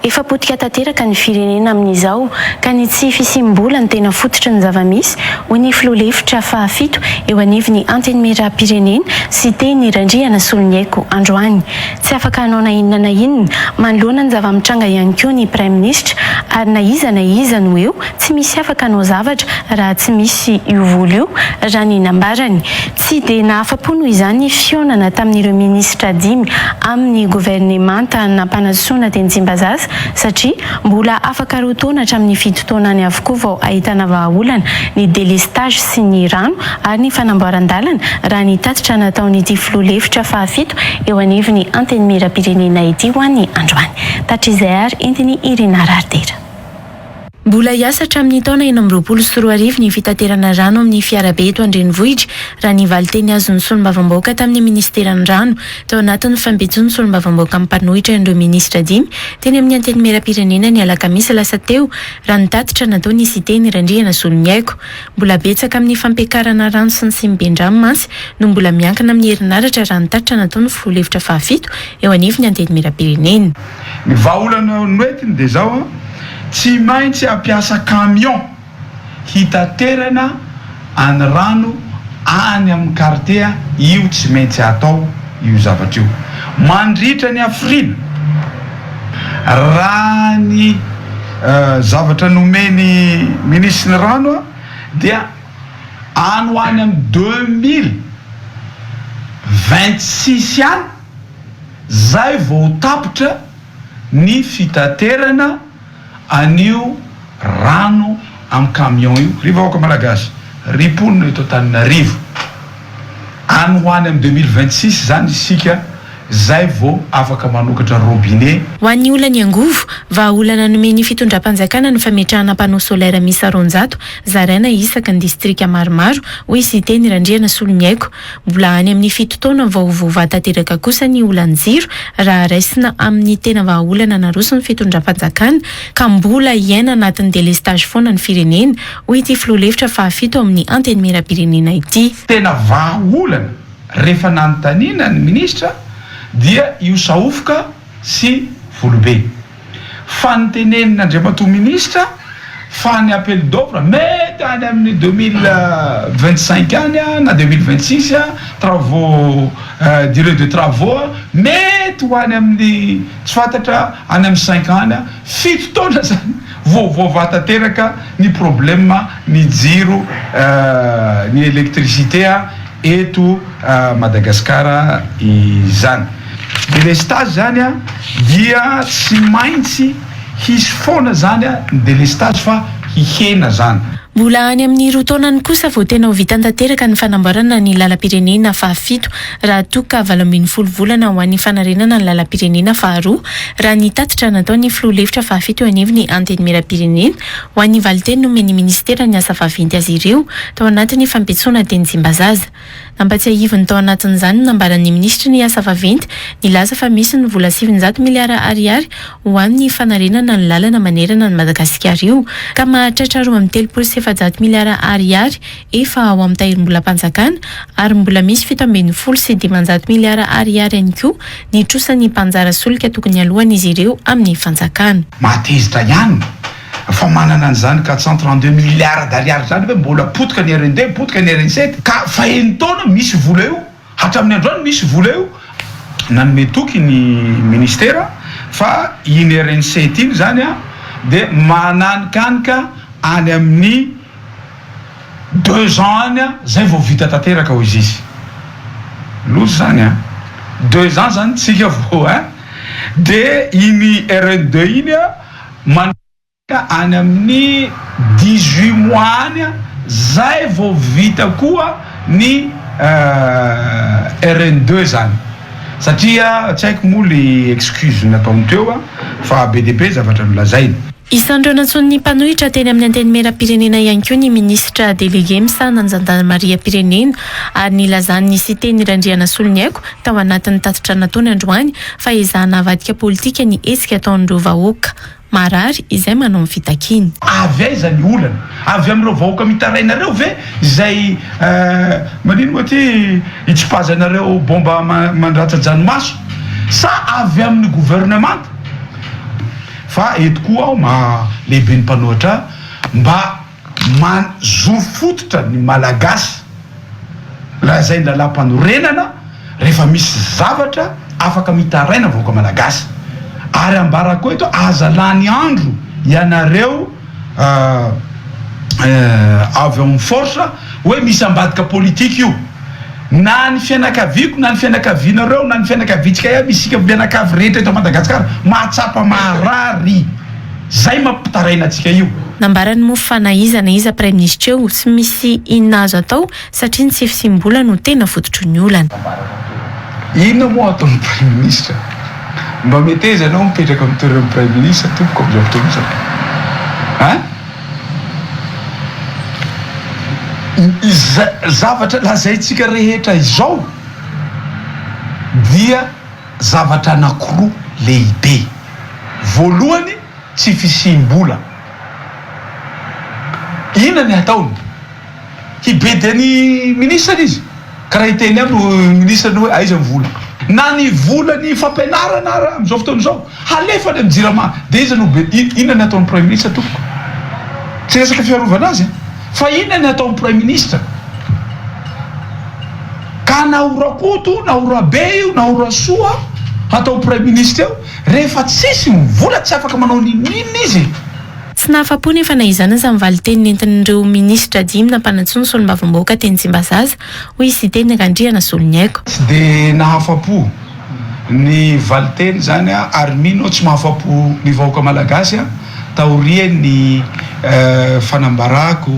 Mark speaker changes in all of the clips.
Speaker 1: Efa potika tanteraka ny firenena amin'izao ka ny tsy fisiam-bola no tena fototry ny zava-misy, hoy ny filoha lefitra fahafito eo anivon'ny Antenimierampirenena, Siteny Randriana Soloniaiko androany. Tsy afaka hanao na inona na inona manoloana ny zava-mitranga ihany koa ny praiminisitra ary na iza na iza no eo tsy misy afaka hanao zavatra raha tsy misy io vola io, raha ny nambarany. Tsy dia nahafa-po noho izany ny fihaonana tamin'ireo minisitra dimy amin'ny governemanta nampanasoana teny Tsimbazaza satria mbola afaka roa taona hatramin'ny fito taona any avokoa vao ahitana vahaolana ny delestazy sy ny rano ary ny fanamboaran-dalana raha ny tatitra nataon'ity filoha lefitra fahafito eo anivon'ny Antenimierampirenena ity ho an'ny androany. Tatrizay ary entiny Irina Raridera. Mbola hiasa hatramin'ny taona enina amby roapolo sy roa arivo ny fitaterana rano amin'ny fiarabe eto an-drenivohitra, raha ny valinteny azon'ny solombavambahoaka tamin'ny minisiteran'ny rano, tao anatin'ny fampijony solombavambahoaka mpanohitra an'ireo minisitra dimy teny amin'ny antenimieram-pirenena ny alakamisy lasa teo, raha ny tatitra nataon'i Siteny Randrianazoloniaiko. Mbola betsaka amin'ny fampiakarana rano sy ny siniben-drano mantsy no mbola miankina amin'ny herinaratra raha ny tatitra nataon'ny filoha lefitra fahafito eo anivon'ny antenimieram-pirenena. Ny
Speaker 2: vahaolana noentiny dia izao, tsy maintsy hampiasa camion hitaterana any rano any amin'ny kartie io tsy maintsy atao io zavatra io mandritra ny hafiriana raha ny zavatra nomen'ny minisitry ny rano dia any ho any amin'ny deux mille vingt six any zay vao ho tapitra ny fitaterana an'io rano am camion io ry vahoaka malagasy ry mponina eto Antananarivo any ho any am deux mille vingt six zany isika zay vao afaka manokatra robinet Ho an'ny olan'ny
Speaker 1: angovo, vahaolana nomen'ny fitondram-panjakana ny fametrahana panneau solaire miisa roanjato zaraina isaky ny distrika maromaro, hoy Siteny Randrianasoloniaiko. Mbola any amin'ny fito taona vao voavaha tanteraka kosa ny olan-jiro raha raisina amin'ny tena vahaolana naroson'ny fitondram-panjakana ka mbola hiaina anatin'ny delestazy foana ny firenena, hoy ity filoha lefitra fahafito amin'ny Antenimierampirenena ity. Tena vahaolana
Speaker 2: rehefa nanontaniana ny minisitra dia io sahofoka sy volobe. Fa ny tenenin' Andriamatoa Minisitra fa ny appel d'offre mety any amin'ny deux mille vingt cinq any na deux mille vingt six, travaux, durée de travaux mety ho any amin'ny tsy fantatra any amin'ny cinq ans any, fito taona izany vao voavaha tanteraka ny problème ny jiro, ny électricité. eto Madagasikara izany. Delestazy izany dia tsy maintsy hisy foana izany ny delestazy fa hihena izany. Mbola any amin'ny
Speaker 1: roa taonany kosa vao tena ho vita tanteraka ny fanamboarana ny lalam-pirenena fahafito raha toa ka valo ambin'ny folo volana ho an'ny fanarenana ny lalam-pirenena faharoa raha ny tatitra nataon'ny filoha lefitra fahafito eo anivon'ny Antenimierampirenena Ho an'ny valinteny nomen'ny minisitera ny asa vaventy azy ireo tao anatin'ny fampitsoana teny Tsimbazaza. Nampatsiahiviny tao anatin'izany ny nambaran'ny minisitry ny asa vaventy nilaza fa misy ny vola sivinjato miliara ariary ho amin'ny fanarenana ny lalana manerana an'i Madagasikara io ka mahatratra roa amby telopolo sy efajato miliara ariary efa ao amin'ny tahirimbolam-panjakana ary mbola misy fito ambin'ny folo sy dimanjato miliara ariary ihany koa ny trosan'ny mpanjara solika tokony haloan'izy ireo amin'ny fanjakana. Mahatezitra ihany
Speaker 2: fa manana an'izany quatre cent trente deux miliara d'ariary izany ve mbola potika ny rnb, potika ny rnset ka faheno taona misy io vola io. Hatramin'ny androany misy vola io nanome toky ny ministera fa iny Erenset iny izany dia mananikanika any amin'ny deux ans any izay vao vita tanteraka hoy izy. Loza izany an! Deux ans izany tsika vao ein! Dia iny RN deux iny an! Ka any amin'ny dix huit mois any zay vao vita koa ny RN deux zany satria tsy haiko moa le excuse nataony teo fa be dia be zavatra nolazainy. Isan'ireo nantsoin'ny
Speaker 1: mpanohitra teny amin'ny Antenimierampirenena ihany koa ny Minisitra Delege misahana ny Zandarimariam-pirenena ary nilazan'i Siteny Randrianasoloniaiko tao anatin'ny tatitra nataony androany fa ezahana avadika politika ny hetsika ataon'ireo vahoaka Marary izay manao ny fitakiany. Avy aiza ny
Speaker 2: olana? Avy amin'ireo vahoaka mitaraina ireo ve izay manino moa ity hitsipazanareo bomba mandratsa-dranomaso? Sa avy amin'ny governemanta? Fa eto koa aho maha lehiben'ny mpanohatra mba. Mahazoro fototra ny Malagasy lazainy lalampanorenana rehefa misy zavatra afaka mitaraina ny vahoaka Malagasy ary ambara koa eto aza lany andro ianareo avy ao amin'ny force hoe misy ambadika politique io. Na ny fianakaviako na ny fianakavianareo na ny fianakaviantsika iaby isika mianakavy rehetra eto Madagasikara mahatsapa maharary zay mampitaraina antsika io. Nambarany moa fa
Speaker 1: na iza na iza praiminisitra eo tsy misy inona azo atao satria ny tsy fisiam-bola no tena fototry ny olana.
Speaker 2: Inona moa atao ny praiminisitra? Mba meteza ianao mipetraka amin'ny toeran'ny praiminisitra tompoko amin'izao fotoana izao an! Izao zavatra lazaintsika rehetra izao dia zavatra anankiroa lehibe. Voalohany, tsy fisiam-bola. Inona ny ataony? hibedy ny minisitra izy ka raha hiteny aminy ho minisitra hoe aiza ny vola na ny vola ny fampianarana ara amizao fotoana izao halefa any am jirama de iza no be inona ny ataony praiminisitra tompoko tsy resaka fiarovana azy fa inona ny ataony praiminisitra ka na ho rakoto na ho rabe io na ho rasoa atao praiminisitra eo rehefa tsisy ny vola tsy afaka manao ny nina izy Tsy nahafa-po
Speaker 1: nefa na izany aza ny valin-teny nentin'ireo minisitra dimy nampanantsoa ny solombavambahoaka teny Tsimbazaza, hoy Siteny Randriana Soloniaiko. Tsy dia
Speaker 2: nahafa-po ny valin-teny izany aho ary mino aho tsy mahafa-po ny vahoaka malagasy taorian'ny fanambarako,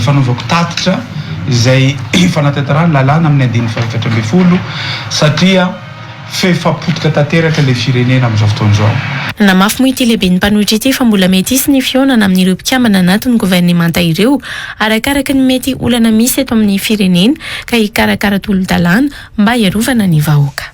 Speaker 2: fanaovako tatitra izay fanatanterahana ny lalàna amin'ny andininy fahaefatra ambin'ny folo satria, F'efa potika tanteraka ilay firenena amin'izao fotoana izao. Namafy moa ity
Speaker 1: lehiben'ny mpanohitra ity fa mbola mety hisy ny fihaonana amin'ireo mpikambana anatin'ny governemanta ireo arakaraky ny mety olana misy eto amin'ny firenena ka hikarakara tolo-dalàna mba hiarovana ny vahoaka.